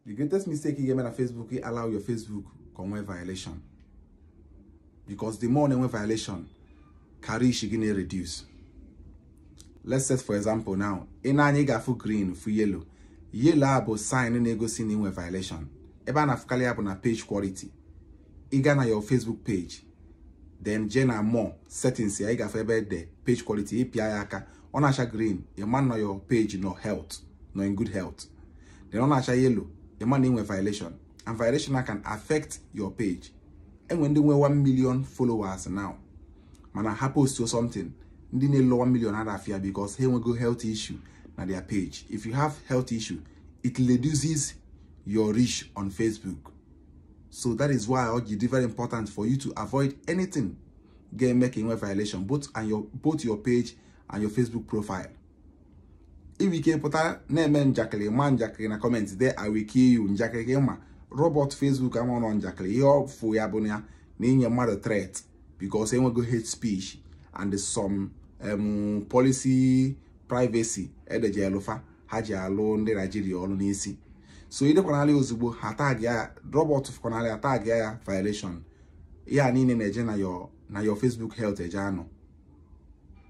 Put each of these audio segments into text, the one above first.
the greatest mistake ị ga-eme na Facebook ị allow your Facebook ka o nwee violation because the more na-enwe violation ka reach gị na-reduce let's set for example now i nee anya ị ga-afụ green fụ yellow yellow a bụ sign na-egosi na i nwe violation ebe a na-afụkarị ya bụ na page quality ị gaa na your Facebook page then jee na more settings ya ị ga-afụ ebe e de page quality ị pịa ya aka ọ na-acha green ị ma na your page nọ health nọ in good health then ọ na-acha yellow ị ma na inwe violation and violation na can affect your page enwe ndị nwe 1 million followers now mana ha post something ndị na-elo 1 million ha afia because ha enwego health issue na their page if you have health issue it reduces your reach on Facebook so that is why it is very important for you to avoid anything ga-eme ka inwe violation both and your both your page and your Facebook profile i nwee ike pụta na-eme njakịrị ma njakịrị na comment dee I will kill you njakịrị ka ịma robot Facebook amarọ na ọ njakịrị ihe ọ fụ ya bụ ya na i nye mmadụ threat because e nwego hate speech and some um, policy privacy e deji alụ fa ha ji alụ ndị Naijiria ọrụ n'isi so i dekwanalị ozugbo ha tag ya robot fụkwanalị a tag ya ya violation ya niile na-eje na your Facebook health eje anọ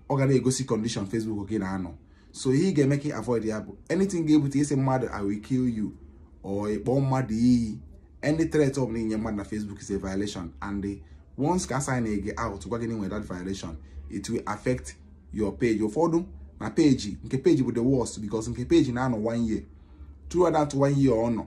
ọ ga na-egosi condition Facebook gị na-anọ so ihe ị ga-eme ka ị avoid ya bụ anything ga-ebute ịsị mmadụ I will kill you or ịkpọ mmadụ iyi any threat ọ bụla i nye mmadụ na Facebook is a violation and once ka a sign gị out gwa gị na i nwere that violation it will affect your page ụfọdụ na page nke page bụ the worst because nke page na-anọ one year throughout that one year ọ nọ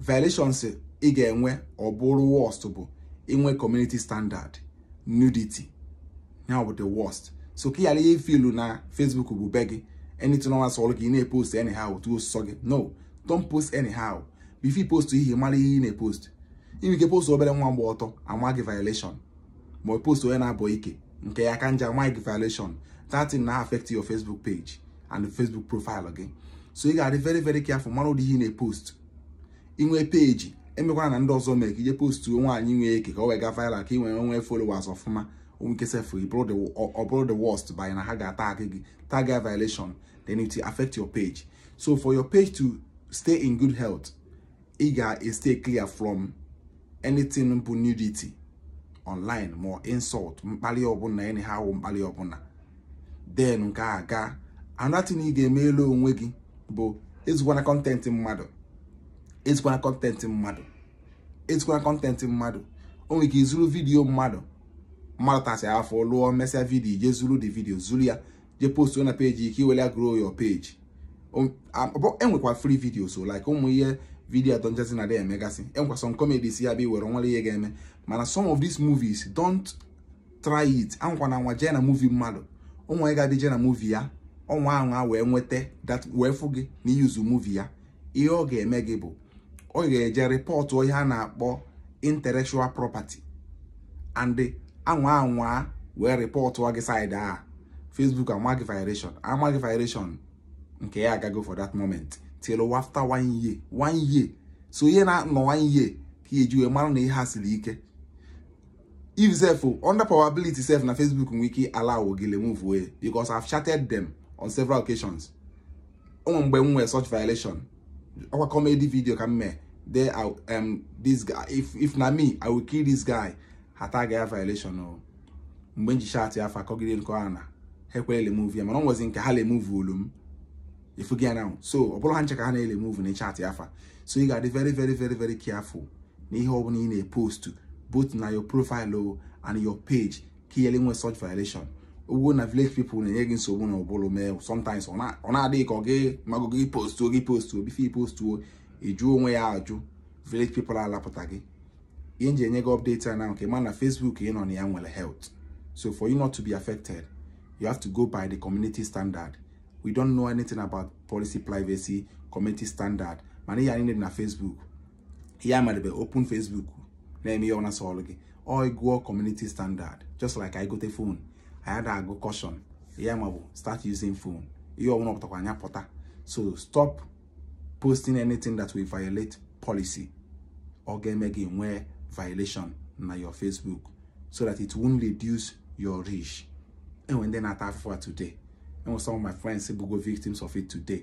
violations ị ga-enwe ọ bụrụ worst bụ inwe community standard nudity ya bụ the worst so ka ị ghara ị-feel na Facebook bụ be gị anything ọbụna sọrọ gị ị na-epost anyhow otu ọ sọ gị no don't post anyhow before you post ihe mara ihe ị na-epost i nwe ike post obere nwa gba ọtọ a maa gị violation ma ị post onye na-abọ ike nke ya ka njọ a maa gị violation that thing na-affect your Facebook page and Facebook profile gị so ị ga-adị very very careful mara ụdị ihe ị na-epost i nwee page emekwana ndị ọzọ mee ka i je post nwaanyị nwee ike ka o wee gaa viral ka ị wee nwee followers ọfụma o nwee ike sef ọ bụrụ the worst bụ na ha ga-atag gị tag ya violation then it will affect your page so for your page to stay in good health ị ga-stay clear from anything bụ nudity online ma insult mkpali ọbụla anyhow mkpali ọbụla then nke a gaa another thing ị ga-emelu onwe gị bụ ezukwana content mmadụ ezukwana content mmadụ ezukwana content mmadụ o nwere ike i zuru video mmadụ mmadụ tasịa afụfụ lụọ mesịa video je zuru the video zuru ya je post na page gị ka i were grow your page e nwekwa free videos so like ụmụ ihe video ndị ọcha na-adị emegasị e nwekwa some comedies ya bụ i were o nwerọ ihe ga-eme mana some of these movies don't try it anwakwana anwa jee na movie mmadụ ụmụ anyị ga-adị jee na movie ya ọ nwaa anwa wee nweta that wee fụ gị na ị use movie ya ihe ọ ga-eme gị bụ ọ ga-eje rịpọtụ ihe a na-akpọ intellectual property and anwa anwa wee rịpọtụ gị saịdị a Facebook amaa gị violation amaa gị violation nke ya agago for that moment till after one year one year so ihe na-anọ one year ka e ji wee mara na ihe ha siri ike if sef under probability sef na Facebook nwere ike allow gị remove ya because I've chatted them on several occasions o nwe mgbe m nwee such violation ọkwa comedy video ka m mee there um, this guy if if na me i will kill this guy ha tag ya violation o mgbe m ji chatịa fa akọgide nke ọha na ha ekwerọ remove ya mana o nwezi nke ha removuolu m ị fụgo ya na so ọ bụrọ ha ncha ka ha na-eremove ma ị chatịa fa so ị ga-adị very very very very careful na ihe ọ bụla ị na-epostu both na your profile o and your page ka ị ghara inwe such violation i kwuo na village people na-enye gị nsogbu na ụbụrụ mee sometimes ọ na-adị gị ka ọ gị magụ gị postuo gị postuo before ị postuo ị jụ onwe ya ajụ village people alapụta gị ihe m ji enye gị update a na ka ị ma na Facebook ị nọ na ya nwere health so for you not to be affected you have to go by the community standard we don't know anything about policy privacy community standard mana ihe anyị na Facebook ihe amadebe open Facebook na-eme ihe ọna sọlụ gị ọ gụọ community standard just like anyị gote phone anyị ada agụ caution ya ma bịa start using phone ihe ọbụla pụtakwanụ ya pụta so stop posting anything that will violate policy ọ ga-eme gị nwee violation na your Facebook so that it won't reduce your reach e nwe ndị na-ata afụfụ a today e nwe some of my friends bụgo victims of it today